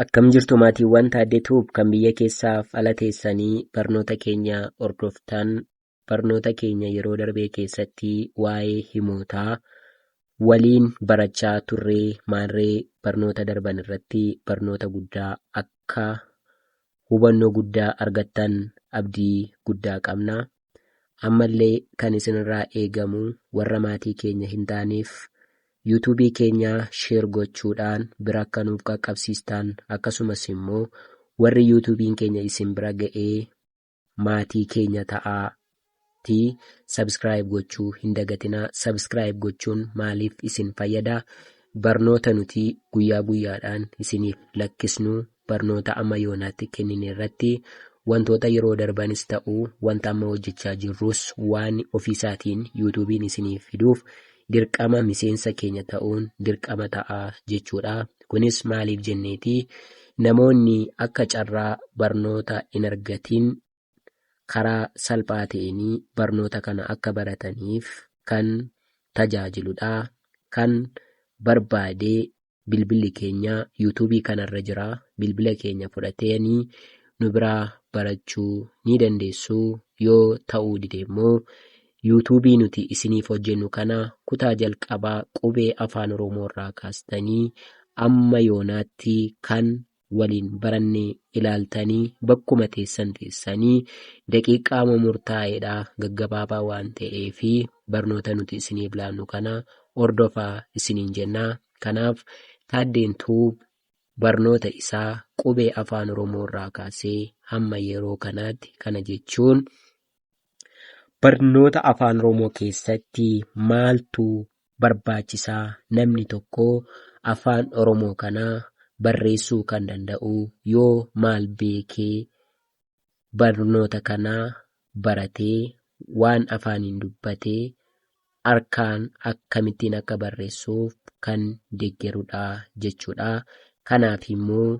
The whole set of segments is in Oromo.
Akkam jirtu maatiiwwan Taaddee Tuub kan biyya keessaaf ala teessanii barnoota keenya hordoftan barnoota keenya yeroo darbee keessatti waa'ee himootaa waliin barachaa turree maarree barnoota darban irratti barnoota guddaa akka hubannoo guddaa argattan abdii guddaa qabna. Ammallee kan isinirraa eegamu warra maatii keenya hin taaneef YouTube keenyaa share gochuudhaan bira akka nuuf qaqqabsiistaan akkasumas immoo warri YouTube'n keenya isin bira ga'ee maatii keenya ta'aa ti subscribe gochuu hin dagatinaa subscribe gochuun maaliif isin fayyada barnoota nuti guyyaa guyyaadhaan isiniif lakkisnu barnoota amma yoonaatti kennine irratti wantoota yeroo darbanis ta'u wanta amma hojjechaa jirrus waan ofiisaatiin yuutuubiin isiniif fiduuf dirqama miseensa keenya ta'uun dirqama ta'a jechuudha. Kunis maaliif jenneeti namoonni akka carraa barnoota hin argatiin karaa salphaa ta'een barnoota kana akka barataniif kan tajaajiludha. Kan barbaade bilbilli keenya yuutuubii kanarra jira. Bilbila keenya fudhatanii nu biraa barachuu ni dandeessu. Yoo ta'uu dide immoo yuutuubii nuti isiniif hojjennu kana kutaa jalqabaa qubee afaan oromoo irraa kaastanii amma yoonaatti kan waliin baranne ilaaltanii bakkuma teessan teessanii daqiiqaama murtaa'eedha gaggabaabaa waan ta'eef barnoota nuti isiniif laannu kana hordofaa isiniin jenna. Kanaaf Taaddeen Tuub barnoota isaa qubee afaan Oromoo irraa kaasee hamma yeroo kanaatti kana jechuun barnoota afaan Oromoo keessatti maaltu barbaachisaa namni tokko afaan oromoo kana barreessuu kan danda'u yoo maal beekee barnoota kana baratee waan afaaniin dubbate harkaan akkamittiin akka barreessuuf kan deggerudha jechuudha. Kanaaf immoo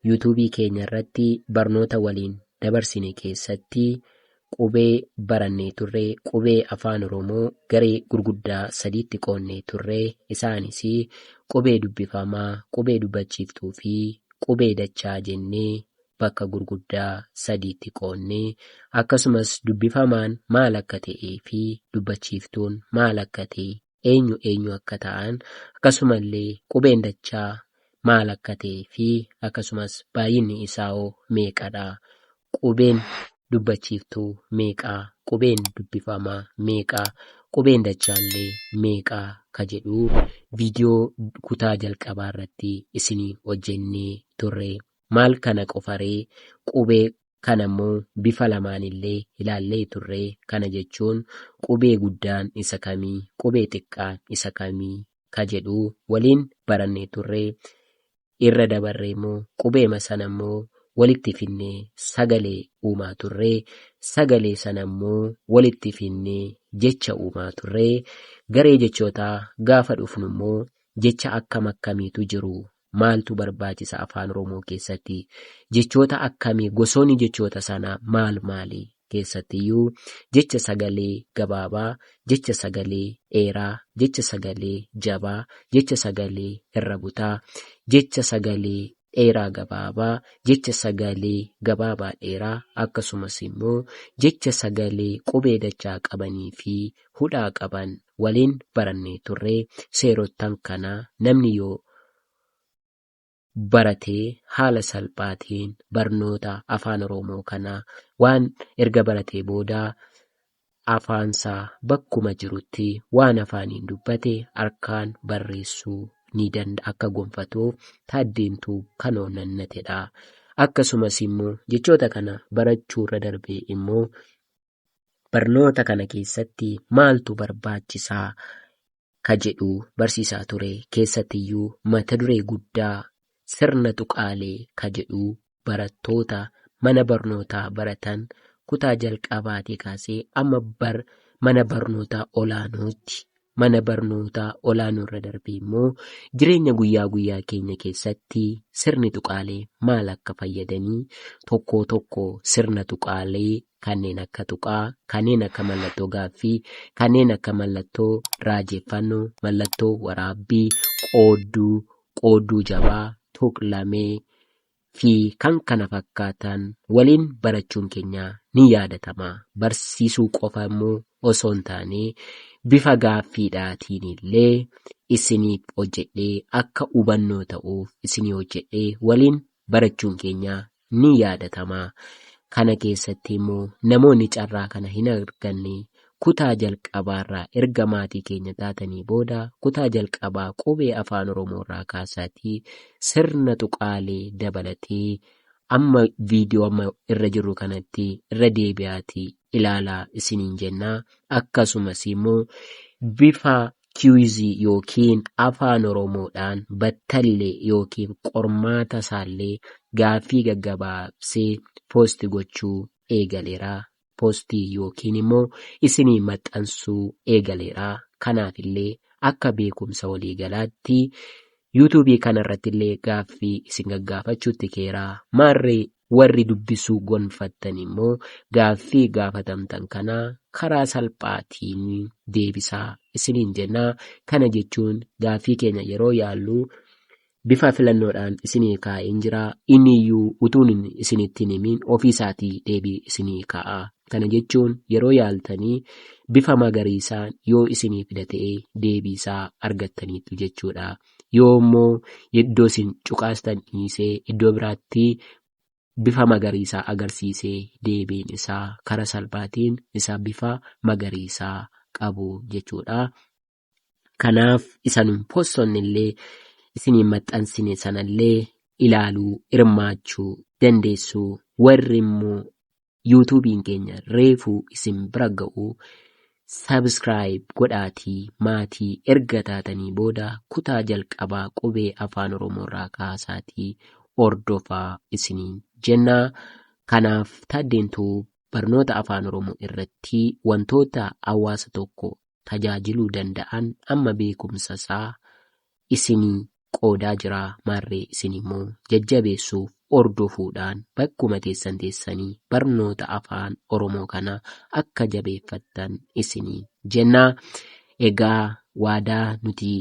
Yuutuubii keenya irratti barnoota waliin dabarsine keessatti qubee barannee turre qubee Afaan Oromoo garee gurguddaa sadiitti qoonnee turre. Isaanis qubee dubbifamaa, qubee dubbachiiftuu fi qubee dachaa jennee bakka gurguddaa sadiitti qoonne. Akkasumas dubbifamaan maal akka ta'ee fi dubbachiiftuun maal akka ta'e eenyu eenyu akka ta'an akkasumallee qubeen dachaa maal akka ta'ee fi akkasumas baay'inni isaahoo meeqadha? Qubeen dubbachiiftuu meeqa? Qubeen dubbifamaa meeqa? Qubeen dachaallee meeqa? ka jedhu viidiyoo kutaa jalqabaarratti isinii hojjennee turre. Maal kana qofaree qubee Kana immoo bifa lamaan illee ilaallee turre. Kana jechuun qubee guddaan isa kami? Qubee xiqqaan isa kami? Ka jedhu waliin barannee turre. Irra dabarree immoo qubeema sana immoo walitti finnee sagalee uumaa turre. Sagalee sana immoo walitti finnee jecha uumaa turre. Garee jechootaa gaafa dhufnu immoo jecha akkam akkamiitu jiru maaltu barbaachisa afaan Oromoo keessatti? Jechoota akkamii gosoonni jechoota sanaa maal maali? Keessattiyyuu jecha sagalee gabaabaa, jecha sagalee dheeraa, jecha sagalee jabaa, jecha sagalee irra butaa, jecha sagalee dheeraa gabaabaa, jecha sagalee gabaabaa dheeraa akkasumas immoo jecha sagalee qubee dachaa qabanii fi hudhaa qaban waliin barannee turre seerottan kana namni yoo barate haala salphaatiin barnoota afaan oroomoo kana waan erga baratee booda afaansaa bakkuma jirutti waan afaaniin dubbate harkaan barreessuu ni danda akka gonfatuuf taaddeentuu kan oonnannatedha akkasumas immoo jechoota kana barachuu irra darbee immoo barnoota kana keessatti maaltu barbaachisaa ka jedhu barsiisaa ture keessattiyyuu mata duree guddaa sirna tuqaalee ka jedhu barattoota mana barnootaa baratan kutaa jalqabaatii kaasee amma bar mana barnootaa olaanootti mana barnootaa olaanoorra darbee immoo jireenya guyyaa guyyaa keenya keessatti sirni tuqaalee maal akka fayyadanii tokkoo tokko sirna tuqaalee kanneen akka tuqaa, kanneen akka mallattoo gaaffii, kanneen akka mallattoo raajeffannoo, mallattoo waraabbii, qoodduu, qoodduu jabaa, tuqlamee, fi kan kana fakkaatan waliin barachuun keenya ni yaadatama. Barsiisuu qofa immoo osoo hin taane bifa gaaffiidhaatiin illee isiniif hojjedhee akka hubannoo ta'uuf isinii hojjedhee waliin barachuun keenya ni yaadatama. Kana keessatti immoo namoonni carraa kana hin arganne Kutaa jalqabaarraa erga maatii keenya taatanii booda kutaa jalqabaa qubee Afaan Oromoorraa kaasaatii sirna tuqaalee dabalatee amma viidiyoo amma irra jirru kanatti irra deebi'aatii ilaalaa isiniin jenna. Akkasumas immoo bifa kiwizii yookiin Afaan Oromoodhaan battallee yookiin qormaata isaallee gaaffii gaggabaabsee poosti gochuu eegaleera. postii yookiin immoo isinii maxxansuu eegaleera. Kanaaf illee akka beekumsa waliigalaatti YouTube kana irratti illee gaaffii isin gaggaafachuutti keera. Maarree warri dubbisuu gonfattan immoo gaaffii gaafatamtan kana karaa salphaatiin deebisaa isiniin jenna. Kana jechuun gaaffii keenya yeroo yaallu Bifa filannoodhaan isinii kaa'een jira. Inni iyyuu utuun isinitti hin himin ofii isaatii deebii isinii kaa'a. Kana jechuun yeroo yaaltanii bifa magariisaan yoo isinii fida ta'e deebii isaa argattaniittu jechuu dha. Yoo immoo iddoo isin cuqaastan dhiisee iddoo biraatti bifa magariisaa agarsiise deebiin isaa karaa salphaatiin isa bifa magariisaa qabu jechuu dha. Kanaaf isa nun possonne illee isiniin maxxansine sanallee ilaaluu hirmaachuu dandeessu. Warri immoo yuutuubiin keenya reefuu isin bira ga'u sabiskiraayib godhaatii maatii erga taatanii booda kutaa jalqabaa qubee afaan oromoorraa kaasaatii hordofaa isiniin jenna. Kanaaf taaddeentuu barnoota afaan oromoo irratti wantoota hawaasa tokko tajaajiluu danda'an amma beekumsa isaa isinii qoodaa jira maarree isin immoo jajjabeessuuf hordofuudhaan bakkuma teessan teessanii barnoota afaan oromoo kana akka jabeeffattan isinii jenna egaa waadaa nuti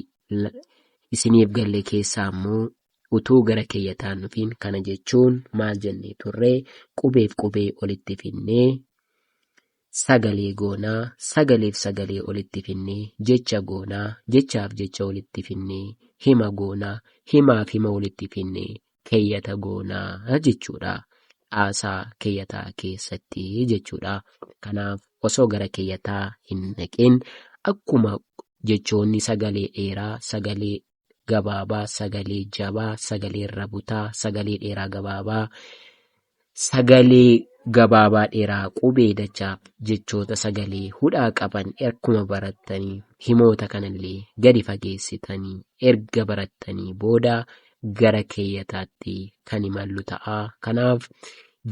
la- isiniif galle keessaa immoo utuu gara keeyyataan nufiin kana jechuun maal jennee turre qubeef qubee olitti finnee sagalee goona, sagaleef sagalee olitti finne, jecha goona, jechaaf jecha walitti finne, hima goona, himaaf hima walitti finne, keeyyata goona jechuudha. Caasaa keeyyataa keessatti jechuudha. Kanaaf osoo gara keeyyataa hin dhaqin akkuma jechoonni sagalee dheeraa, sagalee gabaabaa, sagalee jabaa, sagalee irra butaa, sagalee dheeraa gabaabaa, sagalee gabaabaa dheeraa qubee dachaaf jechoota sagalee hudhaa qaban akkuma barattanii himoota kanallee gadi fageessitanii erga barattanii booda gara keeyyataatti kan imallu ta'a. Kanaaf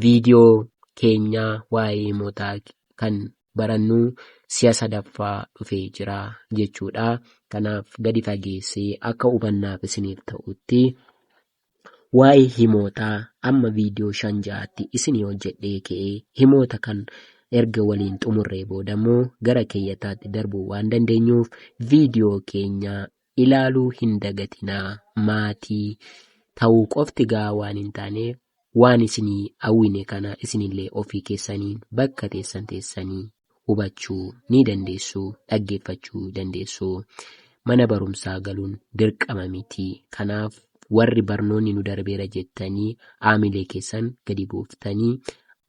viidiyoo keenyaa waa'ee himootaa kan barannu si'a sadaffaa dhufee jira jechuudha. Kanaaf gadi fageessee akka hubannaaf isiniif ta'utti waa'ee himoota amma viidiyoo shan ja'atti isinii hojjedhee ka'e himoota kan erga waliin xumurree booda immoo gara keeyyataatti darbuu waan dandeenyuuf viidiyoo keenya ilaaluu hin dagatinaa maatii ta'uu qofti gahaa waan hin taaneef waan isinii awwine kana isinillee ofii keessaniin bakka teessan teessanii hubachuu ni dandeessu dhaggeeffachuu dandeessu mana barumsaa galuun dirqama miti kanaaf warri barnoonni nu darbeera jettanii aamilee keessan gadi buuftanii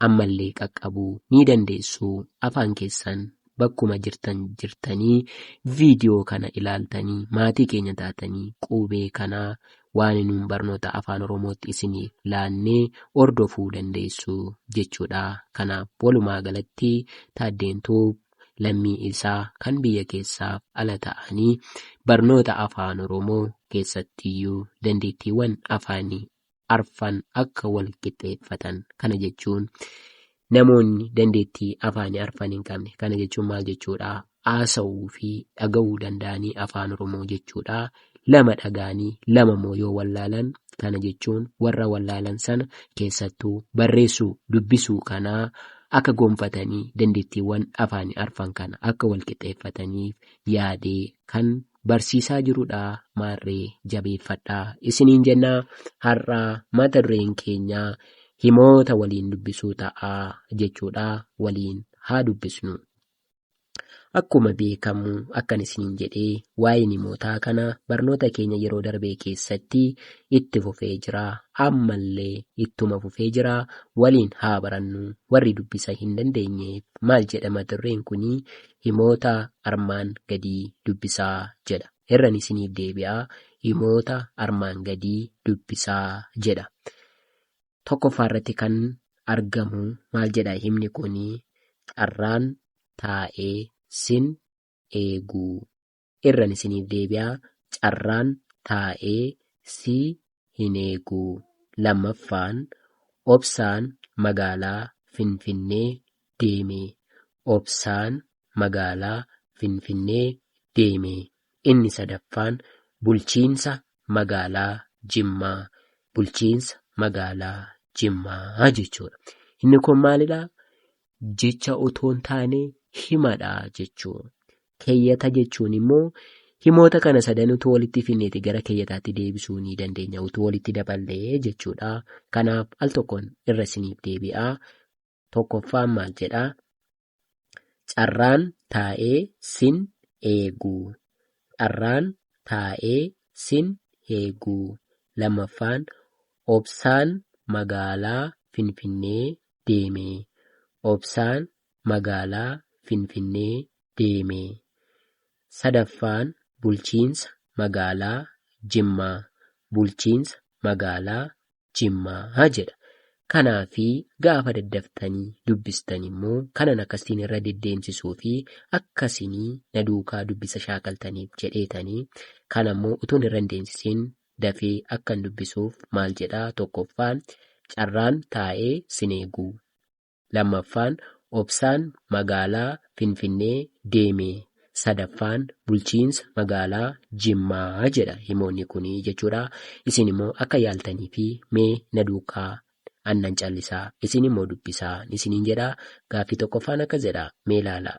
ammallee qaqqabuu ni dandeessu afaan keessan bakkuma jirtan jirtanii viidiyoo kana ilaaltanii maatii keenya taatanii quubee kanaa waan nuun barnoota afaan oromootti isiniif laannee hordofuu dandeessu jechuudha kanaaf walumaa galatti taaddeen tuub lammii isaa kan biyya keessaaf ala ta'anii barnoota afaan oromoo keessattiyyuu dandeettiiwwan afaanii arfan akka wal qixxeeffatan. Kana jechuun namoonni dandeettii afaanii arfan hin qabne. Kana jechuun maal jechuudha? Haasa'uu fi dhaga'uu danda'anii afaan Oromoo jechuudha. Lama dhaga'anii lama immoo yoo wallaalan kana jechuun warra wallaalan sana keessattuu barreessuu dubbisuu kana akka gonfatanii dandeettiiwwan afaanii arfan kana akka wal qixxeeffataniif yaadee kan barsiisaa jirudha maarree jabeeffadhaa isiniin jenna har'a mata dureen keenya himoota waliin dubbisuu ta'a jechuudha waliin haa dubbisnu. Akkuma beekamu akkan isiniin jedhe waa'een himootaa kana barnoota keenya yeroo darbee keessatti itti fufee jira ammallee ittuma fufee jira waliin haa barannu warri dubbisa hin dandeenyeef maal jedha mata dureen kun Himoota armaan gadii dubbisaa jedha. Irran isiniif deebi'a. Himoota armaan gadii dubbisaa jedha. Tokkoffaa irratti kan argamu maal jedha himni kuni? Carraan taa'ee sin eeguu. irran isiniif deebi'a carraan taa'ee si hin eegu. Lammaffaan Obsaan magaalaa Finfinnee deeme Obsaan magaalaa Finfinnee deeme Inni sadaffaan Bulchiinsa magaalaa Jimmaa Bulchiinsa magaalaa Jimmaa jechuudha. Inni kun maalidha? Jecha otoo hin taane himadha jechuudha. Keeyyata jechuun immoo himoota kana sadan utuu walitti finneeti gara keeyyataatti deebisuu ni dandeenya utuu walitti daballee jechuudha. Kanaaf al tokkoon irra isiniif deebi'a. Tokkoffaan maal jedha? Carraan taa'ee sin eegu. Carraan taa'ee sin eegu. Lammaffaan obsaan magaalaa Finfinnee deeme. Obsaan magaalaa Finfinnee deeme. Sadaffaan bulchiinsa magaalaa Jimmaa, bulchiinsa magaalaa Jimmaa jedha. Kanaa fi gaafa daddaftanii dubbistan immoo kanan akka siin irra deddeemsisuu fi akka sinii na duukaa dubbisa shaakaltaniif jedheetanii kan ammoo utuun irra hin deemsisin dafee akkan dubbisuuf maal jedhaa tokkoffaa carraan taa'ee sin eeguu. 2ffaan Obsaan Magaalaa Finfinnee deeme 3ffaan Bulchiinsa Magaalaa Jimmaa jedha himoonni kun jechuudha. Isin immoo akka yaaltaniifi mee na duukaa annan callisaa isin immoo dubbisaa isiniin jedha. Gaaffii 1ffaan akka jedha mee ilaalaa.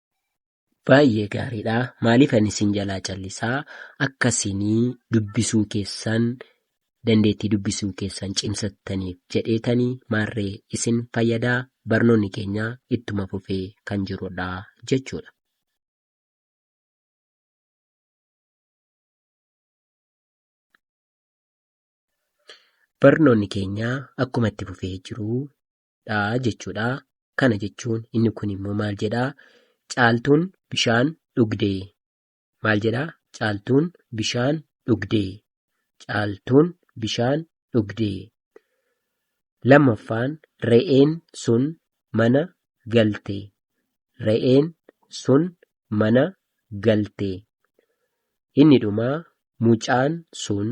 Baay'ee gaariidha. Maaliif ani isin jalaa callisaa akka isin dubbisuu keessan dandeettii dubbisuu keessan cimsattaniif jedheetanii maarree isin fayyadaa barnoonni keenya ittuma fufee kan jirudha jechuudha. Barnoonni keenya akkuma itti fufee jiru dha jechuudha. Kana jechuun inni kun immoo maal jedha? Caaltuun bishaan dhugde. Maal jedha? Caaltuun bishaan dhugde. Caaltuun bishaan dhugde. Lammaffaan re'een sun mana galte. Re'een sun mana galte. Inni dhuma mucaan sun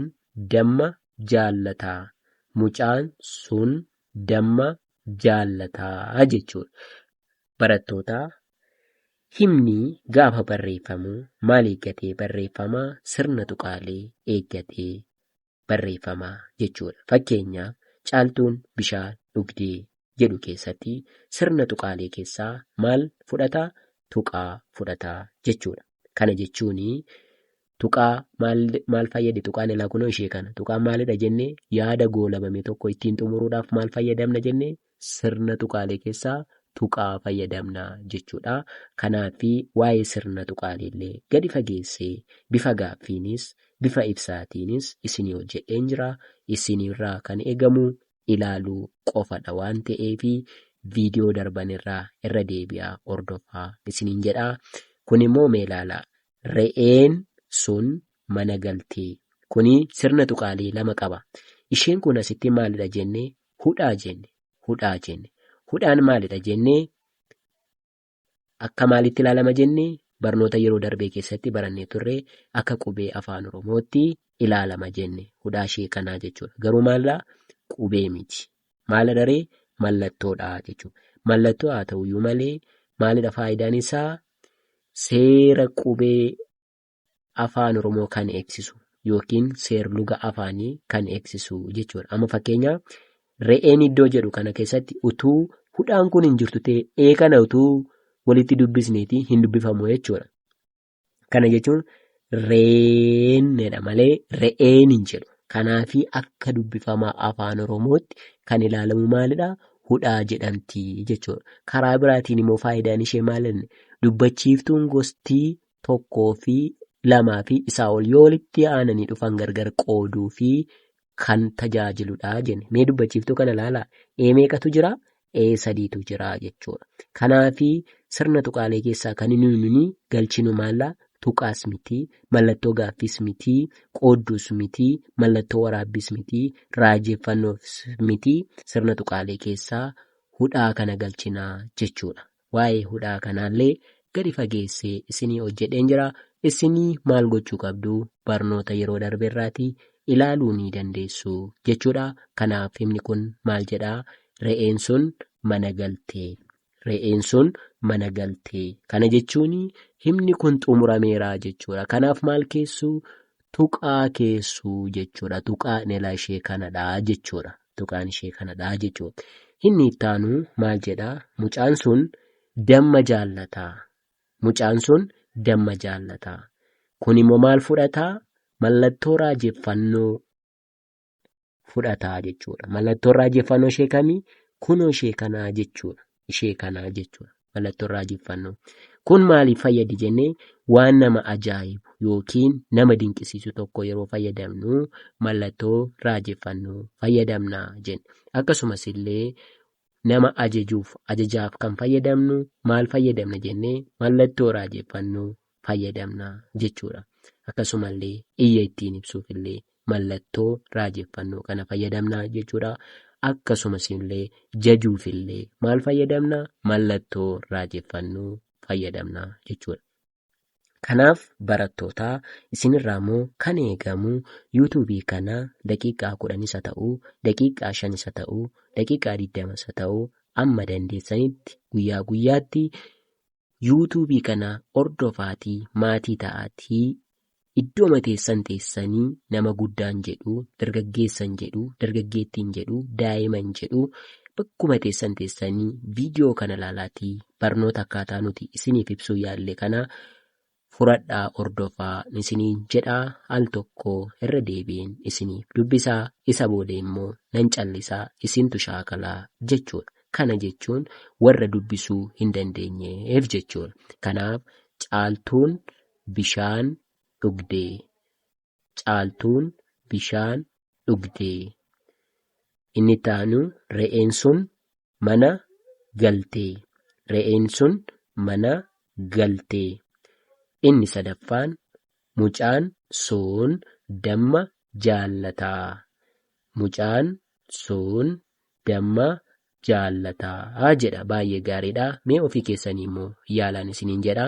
damma jaallata mucaan sun damma jaallata jechuudha. Barattoota himni gaafa barreeffamu maal eeggatee barreeffama? Sirna tuqaalee eeggatee barreeffama jechuudha. Fakkeenyaaf caaltuun bishaan dhugdee jedhu keessatti sirna tuqaalee keessaa maal fudhata? Tuqaa fudhata jechuudha. Kana jechuun tuqaa maal, maal fayyadi tuqaan ilaa kunoo ishee kana. Tuqaan maalidha jenne yaada goolabame tokko ittiin xumuruudhaaf maal fayyadamna jenne Sirna tuqaalee keessaa tuqaa fayyadamna jechuudha. Kanaaf waa'ee sirna tuqaaleellee gadi fageessee bifa gaaffiinis bifa ibsaatiinis isinii hojjedheen jira. Isinirraa kan eegamu ilaaluu qofadha waan ta'eef viidiyoo darbanirraa irra deebi'aa hordofaa isiniin jedha. Kunimmoo mee ilaalaa. Re'een sun mana galtee. Kuni sirna tuqaalee lama qaba. Isheen kun asitti maalidha jenne hudhaa jenne hudhaa jenne hudhaan maalidha jennee akka maalitti ilaalama jenne barnoota yeroo darbee keessatti barannee turre akka qubee afaan oromootti ilaalama jenne hudhaa ishee kanaa jechuudha garuu maallaa qubee miti maala daree mallattoodha jechuudha mallattoo haa ta'uyyuu malee maalidha faayidaan isaa seera qubee Afaan Oromoo kan eegsisu yookiin seerluga afaanii kan eegsisu jechuudha. Amma fakkeenya re'een iddoo jedhu kana keessatti utuu hudhaan kun hin jirtu ta'e ee kana utuu walitti dubbisneeti hin dubbifamu jechuudha. Kana jechuun reenedha malee re'een hin jedhu. Kanaafi akka dubbifamaa afaan Oromootti kan ilaalamu maalidha? Hudhaa jedhamti jechuudha. Karaa biraatiin immoo faayidaan ishee maalidha? Dubbachiiftuun gostii tokkoo fi lamaa fi isaa ol yoo walitti aananii dhufan gargar qooduu fi kan tajaajiludha jenne. Mee dubbachiiftuu kana ilaalaa. Ee meeqatu jira? Ee sadiitu jira jechuudha. Kanaafi sirna tuqaalee keessaa kan inni nuni galchinu maalla tuqaas miti, mallattoo gaaffiis miti, qoodduus miti, mallattoo waraabbiis miti, raajeffannoos miti, sirna tuqaalee keessaa hudhaa kana galchina jechuudha. Waa'ee hudhaa kanaallee gadi fageessee isinii hojjedheen jira. Isinii maal gochuu qabdu? Barnoota yeroo darbe irraatii ilaaluu ni dandeessu jechuudha. Kanaaf himni kun maal jedha? Re'een sun mana galte. Re'een sun mana galte. Kana jechuun himni kun xumurameera jechuudha. Kanaaf maal keessu? tuqaa keessuu jechuudha. Tuqaa inelaa ishee kanadha jechuudha. Tuqaan ishee kanadha jechuudha. Inni ittaanu maal jedha? Mucaan sun damma jaallataa. Mucaan sun damma jaallataa. Kun immoo maal fudhataa? Mallattoo raajeffannoo. fudhataa jechuudha. Mallattoon raajeffannoo ishee kamii? Kunoo ishee kanaa jechuudha. Ishee kanaa jechuudha. Mallattoon raajeffannoo. Kun maaliif fayyadi jennee waan nama ajaa'ibu yookiin nama dinqisiisu tokko yeroo fayyadamnu mallattoo raajeffannoo fayyadamna jenna. Akkasumas illee nama ajajuuf ajajaaf kan fayyadamnu maal fayyadamna jennee mallattoo raajeffannoo fayyadamna jechuudha. Akkasumallee iyya ittiin ibsuuf illee mallattoo raajeffannoo kana fayyadamna jechuudha. Akkasumas illee jajuuf illee maal fayyadamna? Mallattoo raajeffannoo fayyadamna jechuudha. Kanaaf barattootaa isinirraa immoo kan eegamu yuutuubii kana daqiiqaa kudhan isa ta'u, daqiiqaa shan isa ta'u, daqiiqaa digdama isa ta'u amma dandeessanitti guyyaa guyyaatti YouTube kana hordofaati maatii ta'aati iddooma teessan teessani nama guddaan jedhu dargaggeessan jedhu dargaggeettiin jedhu daa'iman jedhu bakkuma teessan teessani video kana laalaati barnoota akkaataa nuti isiniif ibsuu yaalle kana furadhaa hordofaa isiniin jedhaa al tokko irra deebi'een isiniif dubbisaa isa booda immoo nan callisaa isintu shaakalaa jechuudha kana jechuun warra dubbisuu hin dandeenyeef jechuudha kanaaf caaltuun bishaan dhugdee Caaltuun bishaan dhugde. Inni itti aanu re'een sun mana galte. Re'een sun mana galte. Inni sadaffaan mucaan sun damma jaallata. Mucaan sun damma jaallata jedha. Baay'ee gaariidha. Mee ofii keessanii immoo yaalaan isiniin jedha.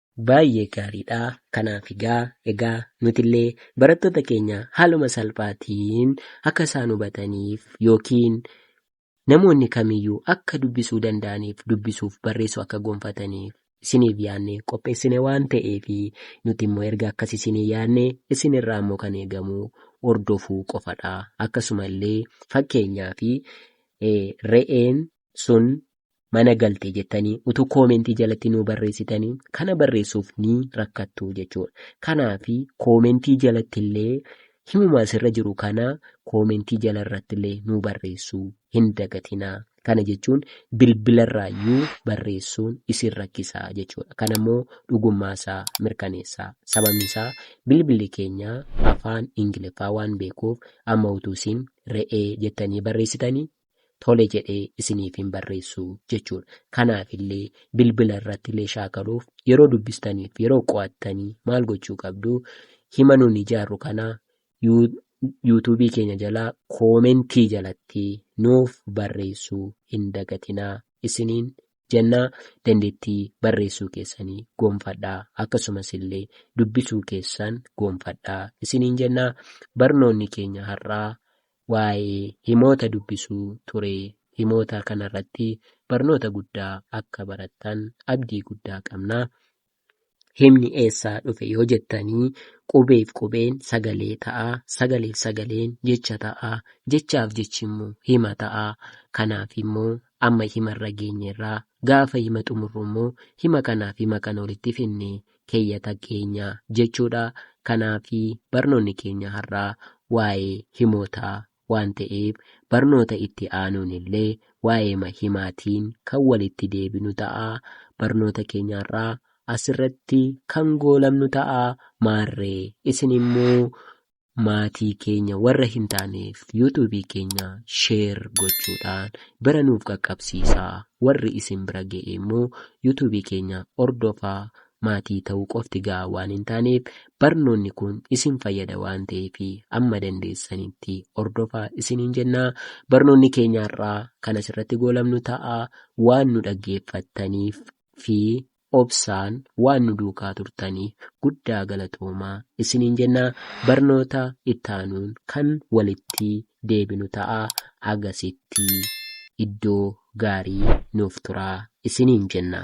Baayyee gaariidha. Kanaaf egaa egaa nutillee barattoota keenya haaluma salphaatiin akka isaan hubataniif yookiin namoonni kamiyyuu akka dubbisuu danda'aniif dubbisuuf barreessuu akka gonfataniif isiniif yaadnee qopheessine waan ta'eef nuti immoo erga akkas isinii yaadne isinirraa immoo kan eegamu hordofuu qofadha. Akkasuma illee fakkeenyaaf re'een sun mana galte jettanii utuu koomentii jalatti nuu barreessitanii kana barreessuuf ni rakkattu jechuudha. Kanaaf koomentii jalatti illee himuma asirra jiru kana koomentii jala irratti illee nuu barreessuu hin dagatinaa. Kana jechuun bilbilarraayyuu barreessuun isin rakkisaa jechuudha. Kana immoo dhugummaa isaa mirkaneessaa. Sababni isaa bilbilli keenya afaan Ingiliffaa waan beekuuf amma utuu isin re'ee jettanii barreessitanii tole jedhee isiniif hin barreessu jechuudha. Kanaaf illee bilbila irratti illee shaakaluuf yeroo dubbistaniif yeroo qo'attanii maal gochuu qabdu hima nuun ijaarru kana yuutuubii keenya jalaa koomentii jalatti nuuf barreessuu hin dagatinaa isiniin jennaa dandeettii barreessuu keessanii goonfadhaa akkasumas illee dubbisuu keessan goonfadhaa isiniin jennaa barnoonni keenya har'aa waa'ee himoota dubbisuu ture. Himoota kanarratti barnoota guddaa akka barattan abdii guddaa qabna. Himni eessaa dhufe yoo jettanii qubeef qubeen sagalee ta'a, sagaleef sagaleen jecha ta'a, jechaaf jechi immoo hima ta'a. Kanaaf immoo amma himarra geenyerra. Gaafa hima xumurru immoo hima kanaaf hima kana walitti fidnee keeyyata keenya jechuudha. Kanaaf barnoonni keenya har'aa waa'ee himootaa waan ta'eef barnoota itti aanuun illee waa'eema himaatiin kan walitti deebinu ta'a. Barnoota keenya har'aa asirratti kan goolabnu ta'a. Maarree isin immoo Maatii keenya warra hin taaneef YouTube keenya share gochuudhaan bira nuuf qaqqabsiisaa. Warri isin bira ga'e immoo YouTube keenya hordofaa maatii ta'uu qofti ga'aa waan hin taaneef barnoonni kun isin fayyada waan ta'eef amma dandeessanitti hordofaa isiniin jenna. Barnoonni keenya har'aa kan asirratti goolabnu ta'a. Waan nu dhaggeeffattaniif fi obsaan waan nu duukaa turtaniif guddaa galatoomaa isiniin jenna barnoota ittaanuun kan walitti deebinu ta'a hagasitti iddoo gaarii nuuf turaa isiniin jenna.